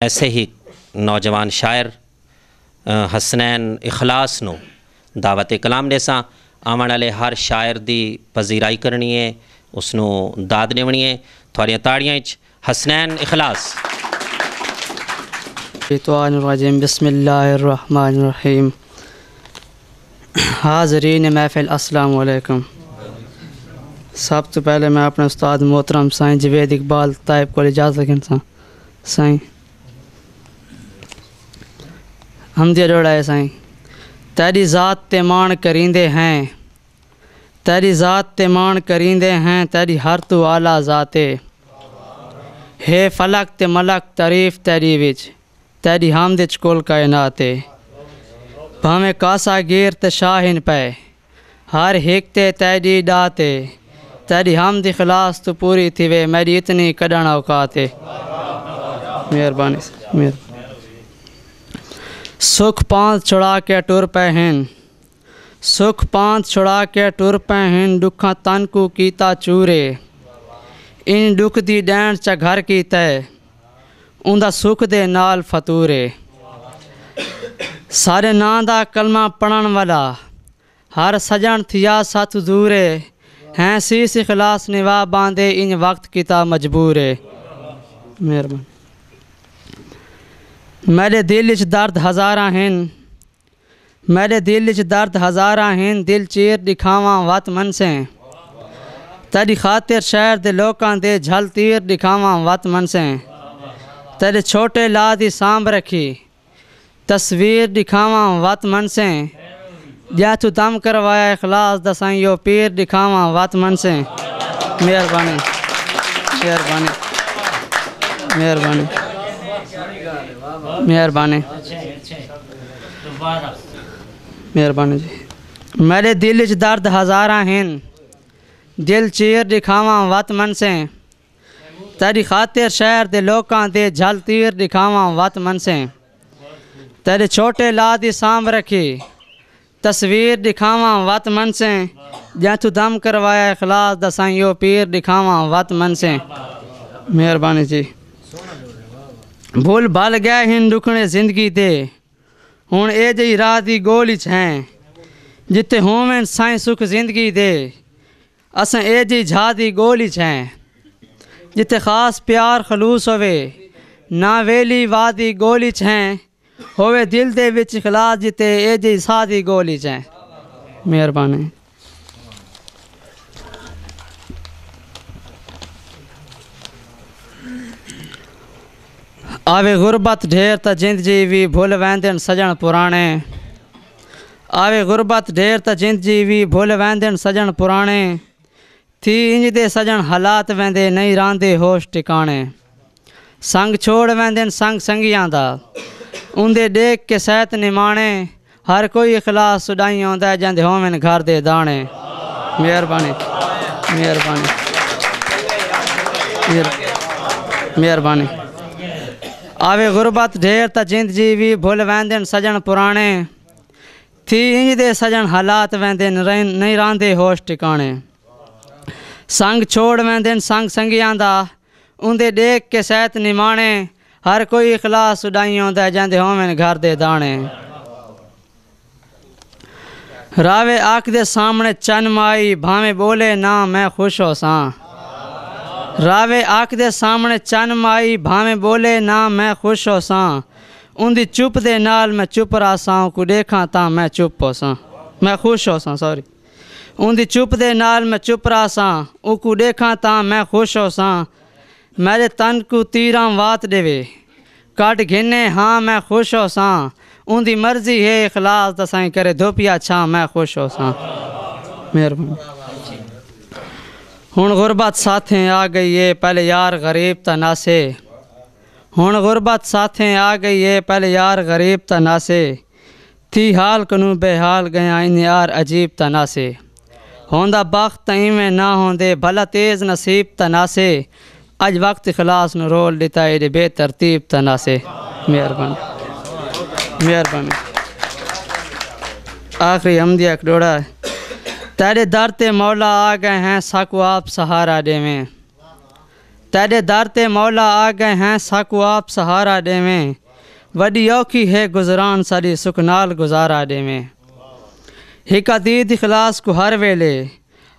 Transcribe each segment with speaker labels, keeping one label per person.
Speaker 1: ایسے ہی نوجوان شاعر حسنین اخلاص نو دعوت کلام ڈیساں آونڑ آلے ہر شاعر دی پذیرائی کرنڑی اے اس نو داد ڈیونڑی اے تھاڈیاں تاڑیاں اچ حسنین اخلاص۔ شیطان الرجیم
Speaker 2: بسم اللہ الرحمن الرحیم حاضرین محفل السلام علیکم سب تو پہلے میں اپنے استاد محترم سائیں جوید اقبال طائب کو اجازت گھنساں۔ سائیں حمدیہ جوڑا ہے سائیں تیری ذات تے مان کریندے ہیں تیری ذات تے مان کریندے ہیں تیری ہر تو اعلی ذات ہے ہے فلک تے ملک تعریف تیری وچ تیری حمد وچ کل کائنات ہے بھاویں کاسا گیر تے شاہن پے ہر ہک تے تیڈی ڈات اے۔ تیڈی حمد اخلاص توں پوری تھیوے میڈی اتنی کڈھنڑ اوقات اے۔ مہربانی ساڈی مہربانی۔ سکھ پانتھ چھڑا کے ٹر پے ہن۔ سکھ پانتھ چھڑا کے ٹر پے ہن ڈکھاں تن کوں کیتا چور اے۔ انج ڈکھ دی ڈینڑ چا گھر کیتے۔ اوندا سکھ دے نال فطور اے سارے ناں دا کلمہ پڑھن والا ہر سجن تھیا ساتھ دور اے ہیں سیس اخلاص نوا باندے انج وقت کیتا مجبور اے مہربان میرے دل اچ درد ہزاراں ہن میڈے دل اچ درد ہزاراں ہن دل چیر ڈکھاواں وت منسیں تیڈی خاطر شہر دے لوکاں دے جھل تیر ڈکھاواں وت منسیں تیڈے چھوٹے لا دی سانبھ رکھی تصویر ڈکھاواں وت منسیں جیں توں دم کروایا اخلاص دا سائیں او پیر ڈکھاواں وت منسیں مہربانی مہربانی مہربانی مہربانی مہربانی جی میڈے دل اچ درد ہزاراں ہن دل چیر ڈکھاواں وت منسیں تیری خاطر شہر دے لوکاں دے جھل تیر ڈکھاواں وت منسیں تیرے چھوٹے لا دی سانبھ رکھی تصویر ڈکھاواں وت منسیں جئیں توں دم کروایا اخلاص دا سائیں او پیر ڈکھاواں وت منسیں مہربانی جی بھل بھل گئے ہن ڈکھڑے زندگی دے ہن اے جئی راہ دی گول اچ ہیں جتے ہوون سائیں سکھ زندگی دے اساں اے جئی جھا دی گول اچ ہیں جتے خاص پیار خلوص ہوے نہ ویلی واہ دی گول اچ ہیں ہووے دل دے وچ اخلاص جتے اے جئی ساز وی گول اچ اے مہربانی۔ آوے غربت ڈھیر تاں جند جی وی بھل ویندن سجن پرانے آوے غربت ڈھیر تاں جند جی وی بھل ویندن سجن پرانے تھی انج دے سجݨ حالات ویندے نئیں راہندے ہوش ٹکاݨے سنگ چھوڑ ویندن سنگ سنگیاں دا اوندے ݙیکھ کے سیت نماݨے ہر کوئی اخلاص سݙائیں آندا جیندے ہوون گھر دے داݨے مہربانی مہربانی مہربانی آوے غربت ڈھیر تا جیند جی وی بھل ویندن سجݨ پراݨے تھی انج دے سجن حالات ویندن رہن نہیں راہندے ہوش ٹکانے سنگ چھوڑ ویندن سنگ سنگیاں دا اوندے ڈیکھ کے سیت نمانے ہر کوئی اخلاص اڈائیں اوندے جیندے ہوون گھر دے دانے راوے آکھ دے سامنے چن مائی بھاویں بولے نہ میں خوش ہو ساں راوے آکھ دے سامنے چن مائی بھاویں بولے نہ میں خوش ہو ساں اوندی چپ دے نال میں چپ رہساں اوکوں ݙیکھاں تاں میں چپ ہوساں میں خوش ہوساں سوری اوندی چپ دے نال میں چپ رہساں اوکوں ݙیکھاں تاں میں خوش ہوساں میݙے تن کوں تیراں وات ݙیوے کڈھ گھنے ہاں میں خوش ہوساں اوندی مرضی ہے اخلاص دا سائیں کرے دھوپیا چھاں میں خوش ہوساں مہربانی ہن غربت ساتھیں آ گئی ہے پہلے یار غریب تاں ناسے ہݨ غربت ساتھیں آ ڳئی اے پہلے یار غریب تاں ناسے تھی حال کنوں بے حال ڳیاں انج یار عجیب تاں ناسے ہوندا بخت تاں ایویں نہ ہوندے بھلا تیز نصیب تاں ناسے اڄ وقت اخلاص نوں رول ݙتا ایݙے بے ترتیب تاں ناسے مہربانی مہربانی آخری حمدیہ اک ݙوڑا تیݙے در تے مولا آ ڳئے ہیں ساکوں آپ سہارا ݙیویں تیڈے در تے مولا آ گئے ہیں ساکوں آپ سہارا ڈیویں وڈی اوکھی ہے گزران ساڈی سکھ نال گزارا ڈیویں ہک عتید اخلاص کوں ہر ویلے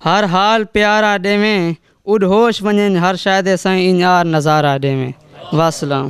Speaker 2: ہر حال پیارا ڈیویں اڈ ہوش ونجنج ہر شے دے سائیں انج آر نظارا ڈیویں واسلام